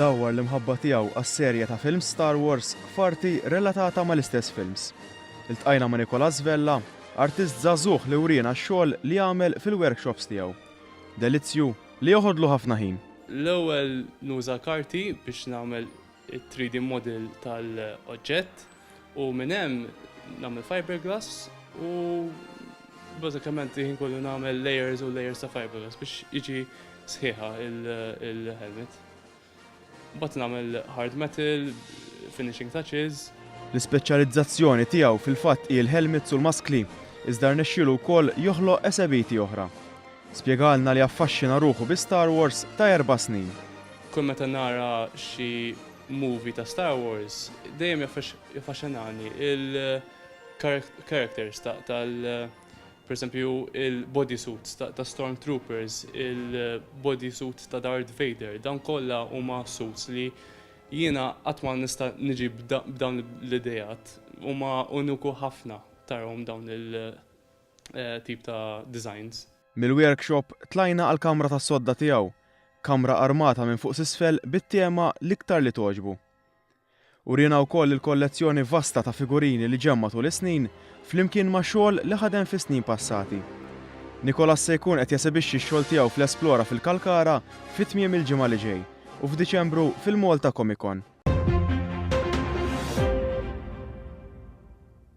dawwar l-imħabba tiegħu għas-serje ta' films Star Wars f'arti relatata mal-istess films. Iltqajna ma' Nicolas Vella, artist żagħżugħ li wriena x-xogħol li għamel fil-workshops tiegħu. Delizzju Li joħodlu ħafna ħin. L-ewwel nuża karti biex nagħmel it-3D model tal-oġġett u minn hemm nagħmel fiberglass u bażikament il-ħin kollu nagħmel layers u layers ta' fiberglass biex jiġi sħiħa il-helmet. Mbagħad nagħmel hard metal, finishing touches. L-ispeċjalizzazzjoni tiegħu fil-fatt hi l-helmets u l-maskli, iżda rnexxielu wkoll joħloq esebiiti oħra. Spjegalna li affaxxina ruħu bi Star Wars ta' erba' snin. Kull meta nara xi movie ta' Star Wars, dejjem jaffaxxinani l-characters tal-, Pereżempju, il-bodysuits ta' Stormtroopers, il-bodysuit ta' Darth Vader, dawn kollha huma suits li jiena qatt ma nista' niġi b'dawn l-ideat. Huma uniku ħafna tarahom dawn il-tip ta' designs. Mill-workshop tlajna għall-kamra tas-sodda tiegħu, kamra armata minn fuq s'isfel bit-tema l-iktar li togħġbu. Uriena wkoll il-kollezzjoni vasta ta' figurini li ġemma' tul is-snin, flimkien ma' xogħol li ħadem fis-snin passati. Nicolas se jkun qed jesebixxi x-xogħol tiegħu fl-Esplora fil-Kalkara fi tmiem il-ġimgħa li ġej u f'Diċembru fil-Malta Comicon.